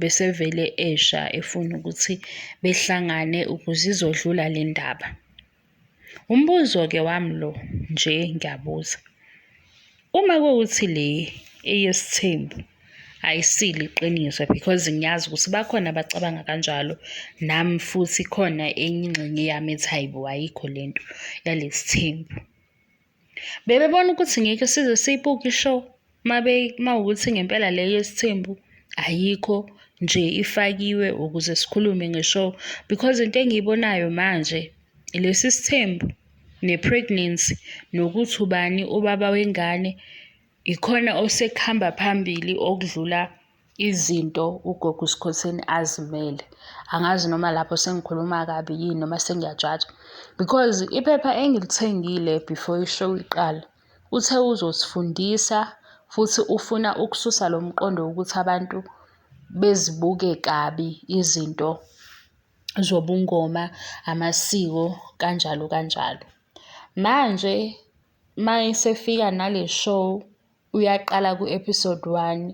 besevele esha efuna ukuthi behlangane ukuze izodlula le ndaba. Umbuzo-ke wami lo nje ngiyabuza, uma kuwukuthi le eyesithembu ayisilo iqiniso because ngiyazi ukuthi bakhona abacabanga kanjalo, nami futhi khona enye ingxenye yami ethi hhayi bo ayikho le nto yalesithembu. Bebebona ukuthi ngeke size siyibuke ishow uma ukuthi ngempela le yesithembu ayikho nje ifakiwe ukuze sikhulume nge-show because into engiyibonayo manje lesi sithembu ne-pregnancy nokuthi ubani ubaba wengane ikhona osekuhamba phambili okudlula izinto ugogo uSikhotheni azimele angazi noma lapho sengikhuluma kabi yini noma sengiyajaja because iphepha engilithengile before ishow iqala uthe uzosifundisa futhi ufuna ukususa lo mqondo wokuthi abantu bezibuke kabi izinto zobungoma amasiko kanjalo kanjalo manje mayesefika nale show uyaqala ku-episode one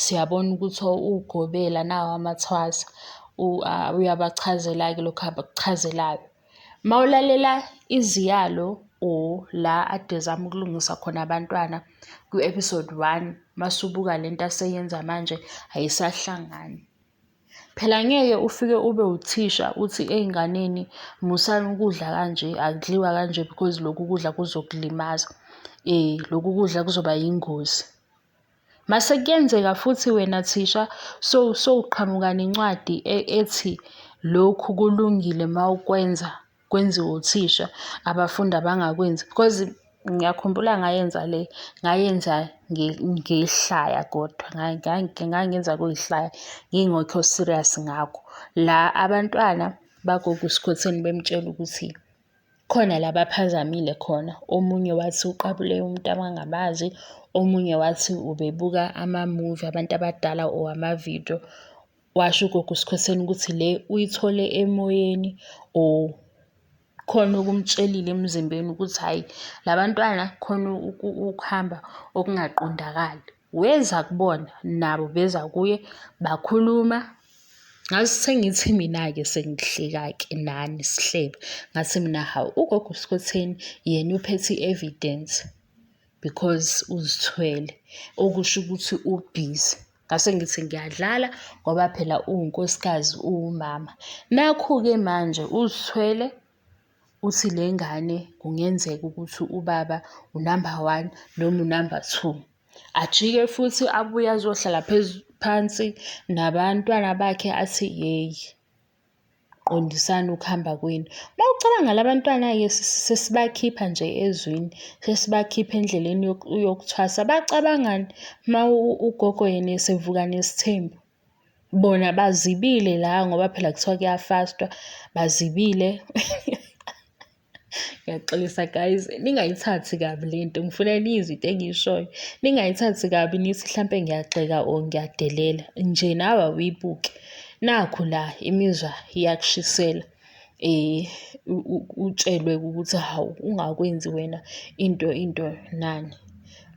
siyabona ukuthi ugobela nawo amathwasa uyabachazela-ke lokhu abakuchazelayo. Uma ulalela iziyalo or la ade ezama ukulungisa khona abantwana kwi-episode one, mase ubuka le nto aseyenza manje ayisahlangani. Phela ngeke ufike ube uthisha uthi ey'nganeni musani ukudla kanje, akudliwa kanje because lokhu kudla kuzokulimaza. Lokhu kudla kuzoba yingozi. Mase kuyenzeka futhi wena thisha sowuqhamuka nencwadi ethi lokhu kulungile uma ukwenza. kwenziwe uthisha abafundi abangakwenzi because ngiyakhumbula ngayenza le ngayenza ngiyihlaya kodwa ngangenza kuyihlaya ngingekho serious ngakho la abantwana bagogo usikhotheni bemtshela ukuthi khona la baphazamile khona omunye wathi uqabule umuntu abangabazi omunye wathi ubebuka amamuvi abantu abadala or amavidiyo. Washo ugogo uSikhosini ukuthi le uyithole emoyeni or khona okumtshelile emzimbeni ukuthi hhayi la bantwana khona ukuhamba okungaqondakali. Weza kubona nabo beza kuye bakhuluma ngase sengithi mina-ke sengihleka-ke nani sihleba ngathi mina hawu ugogo uSikhotheni yena uphethe i-evidence because uzithwele okusho ukuthi ubhizi. Ngase ngithi ngiyadlala ngoba phela uwunkosikazi uwumama. Nakhu-ke manje uzithwele uthi le ngane kungenzeka ukuthi ubaba unamba one noma unamba two. Ajike futhi abuye azohlala phansi nabantwana bakhe athi yeyi. qondisani ukuhamba kwenu. Uma ucabanga labantwana-ke sesibakhipha nje ezwini, sesibakhipha endleleni yokuthwasa. Bacabangani uma ugogo yena esevuka nesithembu? Bona bazibile la ngoba phela kuthiwa kuyafastwa, bazibile. Ngiyaxolisa guys, ningayithathi kabi le nto. Ngifuna niyizwe into engiyishoyo. Ningayithathi kabi nithi hlampe ngiyagxeka or ngiyadelela. Nje nawe awuyibuke. Nakhu la imizwa iyakushisela. utshelwe ukuthi hawu ungakwenzi wena into into nani.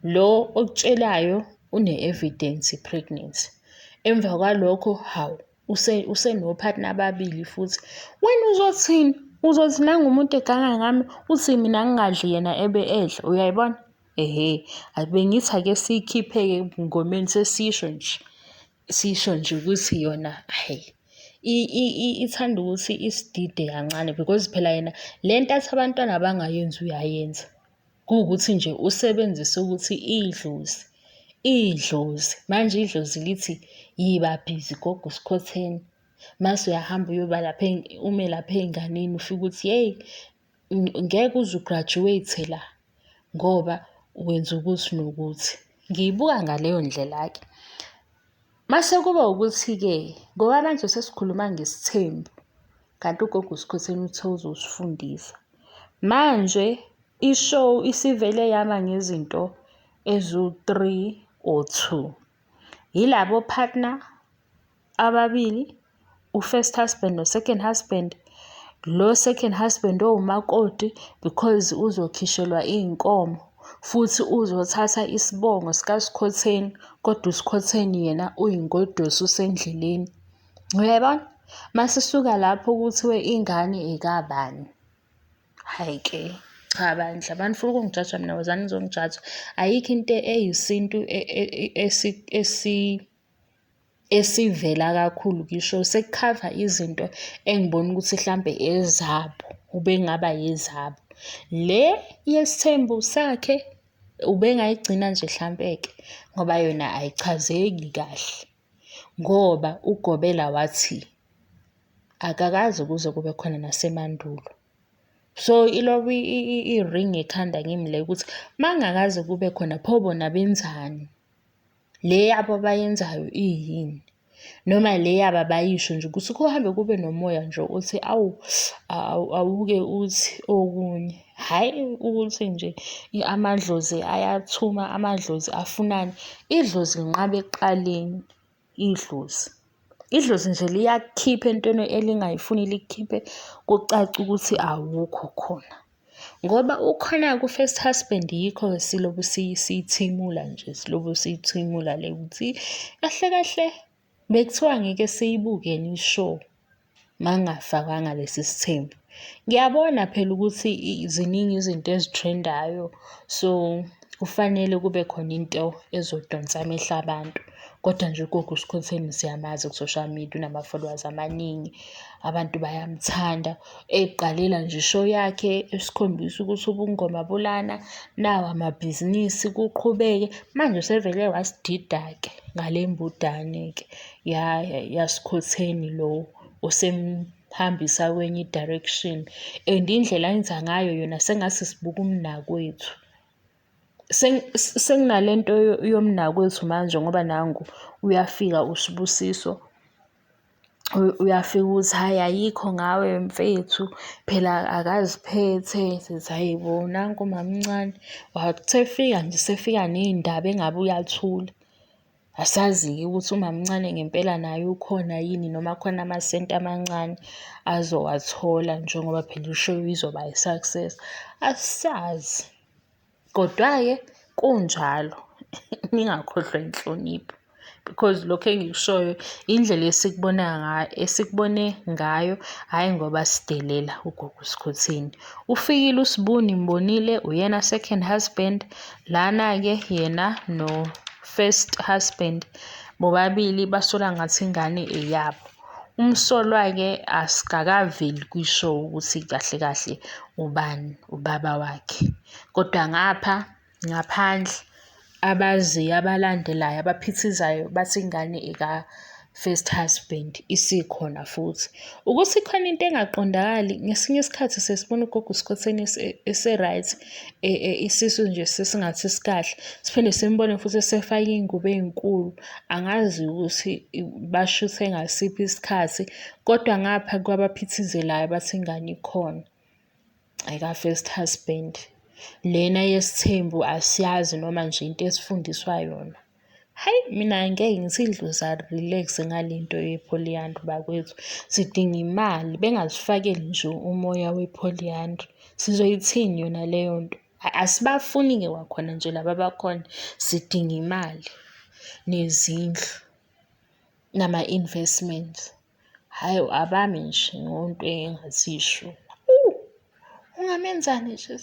Lo okutshelayo une-evidence ye-pregnancy. Emva kwalokho, hawu usenopartner ababili futhi wena uzothini uzothi nangu umuntu eganga ngami uthi mina ngingadli yena ebe edla uyayibona ehe bengithi ake siyikhiphe-ke ebungomeni sesisho nje sisho nje ukuthi yona hhayi ithanda ukuthi isidide kancane because phela yena le nto athi abantwana abangayenzi uyayenza Kuwukuthi nje usebenzise ukuthi idlozi, idlozi. Manje idlozi lithi yiba bhizi gogo usikhotheni. Mase uyahamba uyoba lapha ume lapha ey'nganeni ufike uthi yeyi ngeke uze u-graduate la ngoba wenza ukuthi nokuthi. Ngiyibuka ngaleyo ndlela-ke. Mase kuba ukuthi-ke ngoba manje sesikhuluma ngesithembu kanti ugogo uSikhotheni uthe uzosifundisa. Manje i-show isivele yama ngezinto eziwu-three or two. Yilabo-partner ababili u-first husband no-second husband lo second husband owumakoti because uzokhishelwa iy'nkomo futhi uzothatha isibongo sikaskhotheni kodwa uskhotheni yena uyingoduso usendleleni. Uyayibona? Masisuka lapho kuthiwe ingane ekabani. Hhayi ke cha bandla manifuna ukungijaja mina wozani nizongijaja ayikho into eyisintu e, e, e, esi esivela kakhulu ngisho sekukhava izinto engibona ukuthi hlampe ezabo ubengaba yezabo. Le yesithembu sakhe ubengayigcina nje hlampeke ngoba yona ayichazeki kahle ngoba uGobela wathi akakaze kuze kube khona nasemandulo. So ilokhu i-ring ekhanda kimi le ukuthi uma kungakaze kube khona pho bona benzani. le yabo abayenzayo iyini noma le yabo abayisho nje ukuthi kuhambe kube nomoya nje othi awu awuke uthi okunye hhayi ukuthi nje amadlozi ayathuma amadlozi afunani idlozi linqabe ekuqaleni idlozi idlozi nje liyakhipha entweni elingayifuni likhiphe kucace ukuthi awukho khona. Ngoba ukhona ku-first husband yikho siloku siyithimula nje, siloku siyithimula le ukuthi kahle kahle bekuthiwa ngeke siyibuke yini i-show mangafakanga lesi sithembu. Ngiyabona phela ukuthi ziningi izinto ezithrendayo so kufanele kube khona into ezodonsa amehlo abantu. Kodwa nje ugogo uSkhotheni siyamazi ku-social media unama-followers amaningi, abantu bayamthanda. Ey'qalela nje i-show yakhe esikhombisa ukuthi ubungoma bulana, nawa amabhizinisi kuqhubeke. Manje usevele wasidida-ke ngale mbudane-ke yaSkhotheni lo osemhambisa kwenye i-direction and indlela enza ngayo yona sengathi sibuka umnakwethu. Sekunale nto yomnakwethu manje ngoba nangu uyafika uSbusiso, uyafika ukuthi hhayi ayikho ngawe mfethu phela akaziphethe. Sithi hhayi bo nanku umamncane wathi esefika nje esefika ney'ndaba engabe uyathula. Asazi-ke ukuthi umamncane ngempela naye ukhona yini noma khona amasenti amancane azowathola njengoba phela ishow izoba i-success. Asazi, kodwa-ke kunjalo ningakhohlwa inhlonipho because lokhu engikushoyo indlela esikubona ngayo esikubone ngayo, hhayi ngoba sidelela ugogo uSikhotheni. Ufikile uSbu nimbonile uyena second husband lana-ke yena no first husband bobabili basola ngathi ingane eyabo umsolwa-ke asikakaveli kwi-show ukuthi kahle kahle ubani ubaba wakhe kodwa ngapha ngaphandle abaziyo abalandelayo abaphithizayo bathi ingane first husband isikhona futhi ukuthi khona into engaqondakali ngesinye isikhathi sesibona ugogo usikhotheni ese-right e, e, isisu nje sesingathi sikahle siphinde simbone futhi esefake iy'ngubo ey'nkulu angazi ukuthi bashuthe ngasiphi isikhathi kodwa ngapha kwabaphithizelayo bathi ingane ikhona ayika-first husband lena yesithembu asiyazi noma nje into esifundiswa yona Hhayi mina ngeke ngithi idlozi ali-relax-e ngale nto ye-polyandry bakwethu. Sidinga imali, bengazifakeli nje umoya we-polyandry. Sizoyithini yona leyo nto? Asibafuni-ke kwakhona nje laba abakhona, sidinga imali, nezindlu, nama-investments. Hhayi abami nje ngento engathi isho. Ungamenza nje .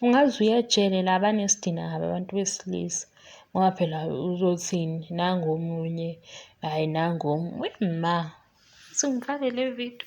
Ungaze uye ejele la banesidina kabi abantu besilisa ngoba phela uzothini nangu omunye hhayi nangu omunye. Weyi ma, uze ungifake le vidiyo.